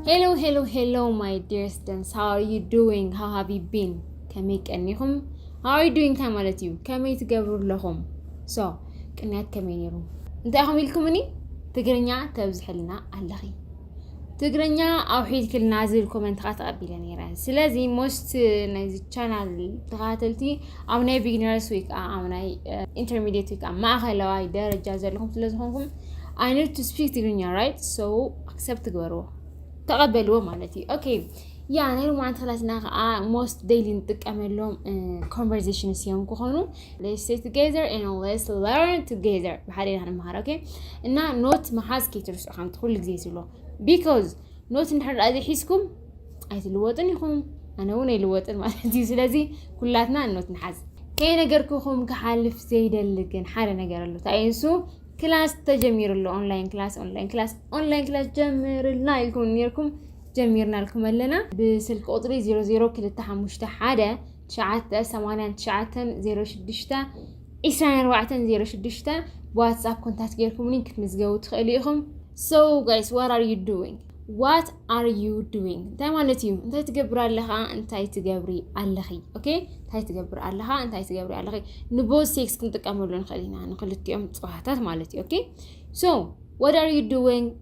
ሄሎ ሄሎ ሄሎ ማይ ዲርስ ደንስ ሃው አር ዩ ዱዊንግ ሃው ሃቭ ዩ ቢን ከመይ ቀኒኹም ሃው አር ዩ ዱዊንግ እንታይ ማለት እዩ ከመይ ትገብሩ ኣለኹም ሶ ቅንያት ከመይ ነይሩ እንታይ ኢኹም ኢልኩምኒ ትግርኛ ተብዝሕልና ኣለኺ ትግርኛ ኣውሒድክልና ዝብል ኮመንት ከዓ ተቐቢለ ነይረ ስለዚ ሞስት ናይዚ ቻናል ተኸታተልቲ ኣብ ናይ ቢግነርስ ወይ ከዓ ኣብ ናይ ኢንተርሚዲየት ወይ ከዓ ማእኸለዋይ ደረጃ ዘለኹም ስለዝኾንኩም ኣይ ኒድ ቱ ስፒክ ትግርኛ ራይት ሶ ኣክሰፕት ትግበርዎ ተቐበልዎ ማለት እዩ ኦኬ ያ ናይ ሎማዓንቲ ክላስና ከዓ ሞስት ደይሊ ንጥቀመሎም ኮንቨርዜሽንስ እዮም ክኾኑ ሌትስ ስቴይ ቱጌዘር ኤንድ ሌትስ ለርን ቱጌዘር ብሓደ ኢና ንመሃር ኦኬ እና ኖት መሓዝ ከይትርስዑ ከምቲ ኩሉ ግዜ ዝብሎ ቢኮዝ ኖት እንድሕር ደኣ ዘይሒዝኩም ኣይትልወጥን ኢኹም ኣነ እውን ኣይልወጥን ማለት እዩ ስለዚ ኩላትና ኖት ንሓዝ ከይነገርኩኹም ክሓልፍ ዘይደሊ ግን ሓደ ነገር ኣሎ እንታይ እዩ ንሱ ክላስ ተጀሚሩ ኣሎ ኦንላይን ክላስ ኦንላይን ክላስ ኦንላይን ክላስ ጀምርልና ኢልኩም ነርኩም ጀሚርናልኩም ኣለና ብስልኪ ቁፅሪ 00251 ትሽዓተ ሰማንያን ትሽዓተን ዜሮ ሽዱሽተ ዒስራን ኣርባዕተን ዜሮ ሽዱሽተ ብዋትስኣፕ ኮንታክት ጌርኩምኒ ክትምዝገቡ ትኽእሉ ኢኹም ሶ ጋይስ ዋት ኣር ዩ ዱዊንግ ዋት ኣር ዩ ዱዊንግ እንታይ ማለት እዩ እንታይ ትገብር ኣለኻ እንታይ ትገብሪ ኣለኺ ኦኬ እንታይ ትገብር ኣለኻ እንታይ ትገብሪ ኣለኺ ንቦዝ ሴክስ ክንጥቀመሉ ንኽእል ኢና ንክልቲኦም ፅዋታት ማለት እዩ ኦኬ ሶ ዋት ኣር ዩ ዱዊንግ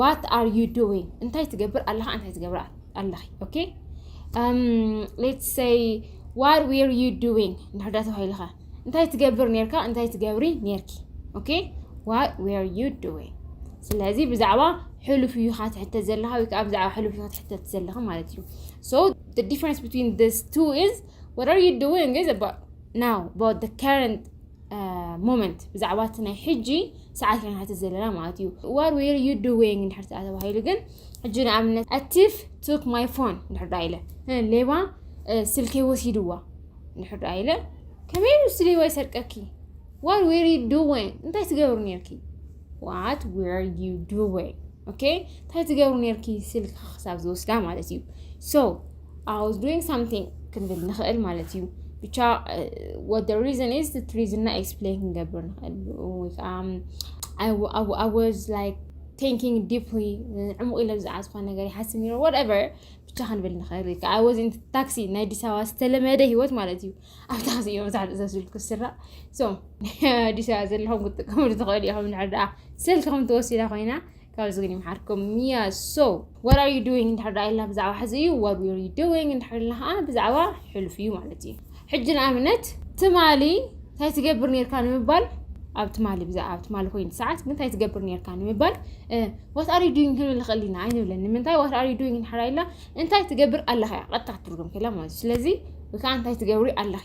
ዋት ኣር ዩ ዱዊንግ እንታይ ትገብር ኣለኻ እንታይ ትገብር ኣለኺ ኦኬ ሌትስ ሰይ ዋት ዌር ዩ ዱዊንግ እንድሕር ዳ ተባሂልኻ እንታይ ትገብር ነርካ እንታይ ትገብሪ ነርኪ ኦኬ ዋት ዌር ዩ ዱዊንግ ስለዚ ብዛዕባ ሕሉፍ እዩ ካ ትሕተ ዘለካ ወይ ከዓ ብዛዕባ ሕሉፍ እዩ ትሕተት ዘለካ ማለት እዩ ሶ the difference between these two is what are you doing is about now about the current ሞመንት ብዛዕባ እቲ ናይ ሕጂ ሰዓት ኢና ንሓትት ዘለና ማለት እዩ ዋር ዌር ዩ ዱዌንግ እንድሕር ተኣ ተባሂሉ ግን ሕጂ ንኣብነት ኣቲፍ ቱክ ማይ ፎን እንድሕር ዳ ኢለ ሌባ ስልከይ ወሲድዋ እንድሕር ዳ ኢለ ከመይ ምስ ሌባ ይሰርቀኪ ዋር ዌር ዩ ዱዌንግ እንታይ ትገብሩ ነርኪ ዋት ዌር ዩ ዱዌንግ ኦኬ እንታይ ትገብሩ ነርኪ ስልኪ ክሳብ ዝወስዳ ማለት እዩ ሶ I was doing something ክንብል ንኽእል ማለት እዩ ብቻ what the reason is እቲ ሪዝንና ኤክስፕሌን ክንገብር ንኽእል ወይ ከዓ I, I, I was like thinking deeply ዕሙቕ ኢለ ብዛዕባ ዝኾነ ነገር ይሓስብ ነይረ whatever ብቻ ክንብል ንኽእል ወይ ከዓ I was in taxi ናይ ኣዲስ ኣበባ ዝተለመደ ህይወት ማለት እዩ ኣብ ታክሲ እዮም መብዛሕትኡ ሰብ ስልኩ ዝስራዕ ሶ ኣዲስ ኣበባ ዘለኹም ክትጥቀምሉ ትኽእሉ ኢኹም ንሕር ደኣ ስልክኹም ተወሲዳ ኮይና ካብዚ ግን ይምሓርኩም ሚያ ሶ ዋት ኣር ዩ ዱዊንግ እንድሕር ዳ ኢልና ብዛዕባ ሕዚ እዩ ዋት ዊር ዩ ዱዊንግ እንድሕር ኢልና ከዓ ብዛዕባ ሕሉፍ እዩ ማለት እዩ ሕጂ ንኣብነት ትማሊ እንታይ ትገብር ነርካ ንምባል ኣብ ትማሊ ብዛዕባ ኣብ ትማሊ ኮይኑ ሰዓት ምንታይ ትገብር ነርካ ንምባል ዋት ኣር ዩ ዱዊንግ ክንብል ንኽእል ኢና ኣይንብለን ንምንታይ ዋት ኣር ዩ ዱዊንግ እንድሕር ኢልና እንታይ ትገብር ኣለኻ እያ ቀጥታ ክትርጉም ከላ ማለት እዩ ስለዚ ወይ ከዓ እንታይ ትገብሪ ኣለኺ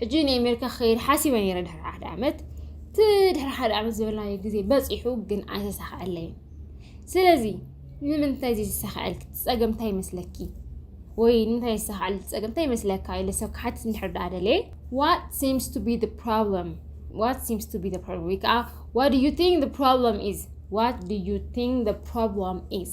ሕጂ ናይ ኣሜሪካ ክኸይድ ሓሲበ ነይረ ድሕሪ ሓደ ዓመት እቲ ድሕሪ ሓደ ዓመት ዝበልናዮ ግዜ በፂሑ ግን ኣይተሳክዐለይን ስለዚ ንምንታይ ዘይተሳክዐል ፀገም እንታይ ይመስለኪ ወይ ንምንታይ ይሳክዐል ፀገም እንታይ ይመስለካ ኢለ ሰብ ክሓትት እንድሕር ዳኣ ደልየ ዋት ሲምስ ቱ ቢ ፕሮብለም ዋት ሲምስ ቱ ቢ ፕሮብለም ወይ ከዓ ዋት ዩ ቲንክ ፕሮብለም ኢዝ ዋት ዩ ቲንክ ፕሮብለም ኢዝ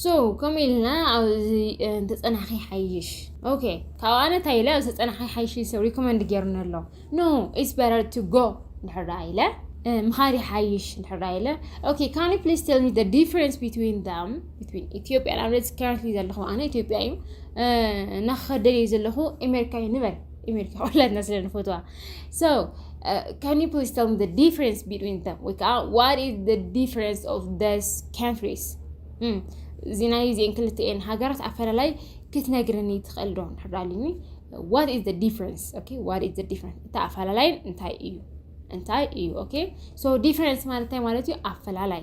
So ከምኡ ኢልና ኣብዚ እንተጸናሕኪ ይሓይሽ ኦኬ ካብኡ ኣነ እንታይ ኢለ ኣብዚ ተጸናሕኪ ይሓይሽ ኢሉ ሰብ ሪኮመንድ ጌርኒ ኣሎ ኖ ኢትስ በረር ቱ ጎ እንድሕር ደኣ ኢለ ምኻድ ይሓይሽ እንድሕር ደኣ ኢለ ኦኬ ካን ዩ ፕሊዝ ቴል ሚ ዘ ዲፍረንስ ቢትዊን ዳም ቢትዊን ኢትዮጵያ ንኣብነት ከረንትሊ ዘለኹ ኣነ ኢትዮጵያ እዩ እና ክኸደል እየ ዘለኹ ኣሜሪካ እዩ ንበል ኢሜሪካ ኩላትና ስለ ንፈትዋ ሶ ካን ዩ ፕሊዝ ተል ሚ ዲፍረንስ ቢትዊን ተም ወይ ከዓ ዋት ኢዝ ደ ዲፍረንስ ኦፍ ደስ ካንትሪስ እዚ ናይ እዚአን ክልተኤን ሃገራት ኣፈላላይ ክትነግርኒ ትኽእል ዶ ንድሕር ኣልኒ ዋት ኢዝ ዲፍረንስ ኦኬ ዋት ኢዝ ዲፍረንስ እቲ ኣፈላላይ እንታይ እዩ እንታይ እዩ ኦኬ ሶ ዲፍረንስ ማለት እንታይ ማለት እዩ ኣፈላላይ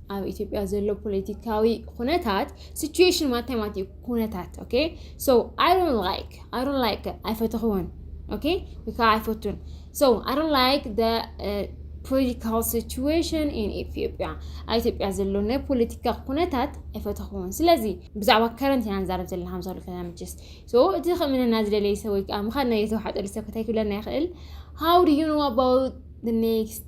ኣብ ኢትዮጵያ ዘሎ ፖለቲካዊ ኩነታት ሲቹዌሽን ማታይ ማለት እዩ ኩነታት ኦኬ ሶ ኣይ ዶንት ላይክ ኣይ ዶንት ላይክ ኣይፈተኽዎን ኦኬ ወይ ከዓ ኣይፈቱን ሶ ኣይ ዶንት ላይክ ደ ፖለቲካል ሲቹዌሽን ኢን ኢትዮጵያ ኣብ ኢትዮጵያ ዘሎ ናይ ፖለቲካ ኩነታት ኣይፈተኽዎን ስለዚ ብዛዕባ ከረንት ኢና ንዛረብ ዘለና ከም ዝብለካ መችስ ሶ እቲ ከምንና ዝደለየ ሰብ ወይ ከዓ ምኻድና የተዋሓጠሉ ሰብ ከታይ ክብለና ይኽእል ሃው ዱ ዩ ኖ ኣባውት ኔክስት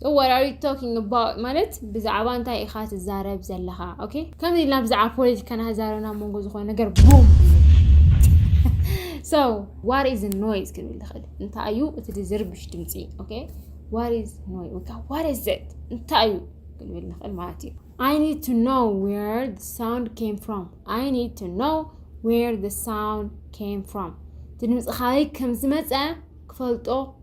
So what are you talking about ማለት ብዛዕባ እንታይ ኢኻ ትዛረብ ዘለኻ ኦኬ ከምዚ ኢልና ብዛዕባ ፖለቲካ ናዛረብ ናብ መንጎ ዝኾነ ነገር ቡም ሶ ዋት ኢዝ ኖይዝ ክንብል ንኽእል እንታይ እዩ እቲ ዝርብሽ ድምፂ ኦኬ ዋት ኢዝ ኖይ ወይ ከዓ ዋት ኢዝ ዘት እንታይ እዩ ክንብል ንኽእል ማለት እዩ I need to know where the sound came from I need to know where the sound came from እቲ ድምፂ ካበይ ከም ዝመፀ ክፈልጦ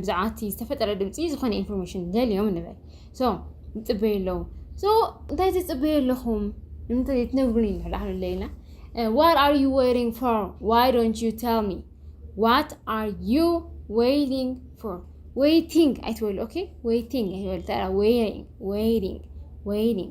ብዛዕባ እቲ ዝተፈጠረ ድምፂ ዝኾነ ኢንፎርሜሽን ደልዮም ንበል ሶ ይፅበዩ ኣለዉ ሶ እንታይ ትፅበዩ ኣለኹም ንምንታይ ትነግሩኒ ንሕዳሕዱ ለይና ዋት ኣር ዩ ዌይቲንግ ፎር ዋይ ዶንት ዩ ቴል ሚ ዋት ኣር ዩ ዌይቲንግ ፎር ዌይቲንግ ኣይትበሉ ኦኬ ዌይቲንግ ኣይትበሉ ተራ ዌይቲንግ ዌይቲንግ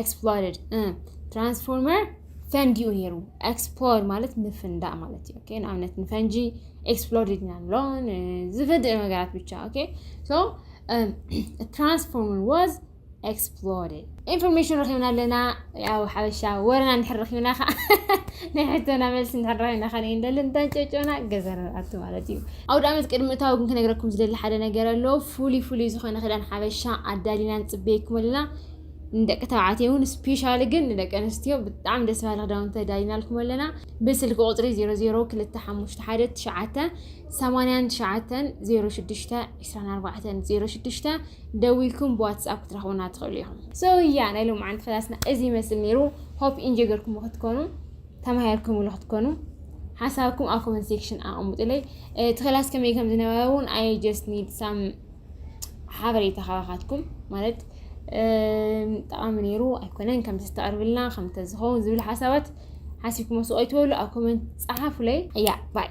ኤክስፕሎድድ ትራንስፎርመር ፈንዲኡ ነይሩ ኤክስፕሎድ ማለት ምፍንዳእ ማለት እዩ ኦኬ ንኣብነት ንፈንጂ ኤክስፕሎድድ ኢና ንብሎ ዝፈድእ ነገራት ብቻ ኦኬ ሶ ትራንስፎርመር ዋዝ ኤክስፕሎድድ ኢንፎርሜሽን ረኪብና ኣለና ያው ሓበሻ ወረና ንድሕር ረኪብና ከዓ ናይ ሕቶና መልሲ ንድሕር ረኪብና ከነ እንደሊ እንተንጨጨና ገዘር ኣቱ ማለት እዩ ኣውደ ኣመት ቅድሚ እታዊ ግን ክነግረኩም ዝደሊ ሓደ ነገር ኣሎ ፍሉይ ፍሉይ ዝኮነ ክዳን ሓበሻ ኣዳሊና ንፅበየኩም ኣለና ንደቂ ተባዕትዮ እውን ስፔሻሊ ግን ንደቂ ኣንስትዮ ብጣዕሚ ደስ በሃሊ ክዳውንቲ ተዳሊናልኩም ኣለና ብስልኪ ቁፅሪ 00251989062406 ደዊልኩም ብዋትስኣፕ ክትረኽቡና ትኽእሉ ኢኹም ሶ እያ ናይ ሎም ዓንቲ ክላስና እዚ ይመስል ነይሩ ሆፕ ኢንጆይ ገርኩም ክትኮኑ ተማሂርኩምሉ ክትኮኑ ሓሳብኩም ኣብ ኮመንት ሴክሽን ኣቐምጡለይ እቲ ክላስ ከመይ ከም ዝነበረ እውን ኣይ ጀስት ኒድ ሳም ሓበሬታ ካባኻትኩም ማለት ጠቓሚ ነይሩ ኣይኮነን ከምዚ ተቕርብልና ከም ተዝኸውን ዝብል ሓሳባት ሓሲብኩሞ ስቕ ኣይትበሉ ኣብ ኮመንት ፀሓፉለይ እያ ባይ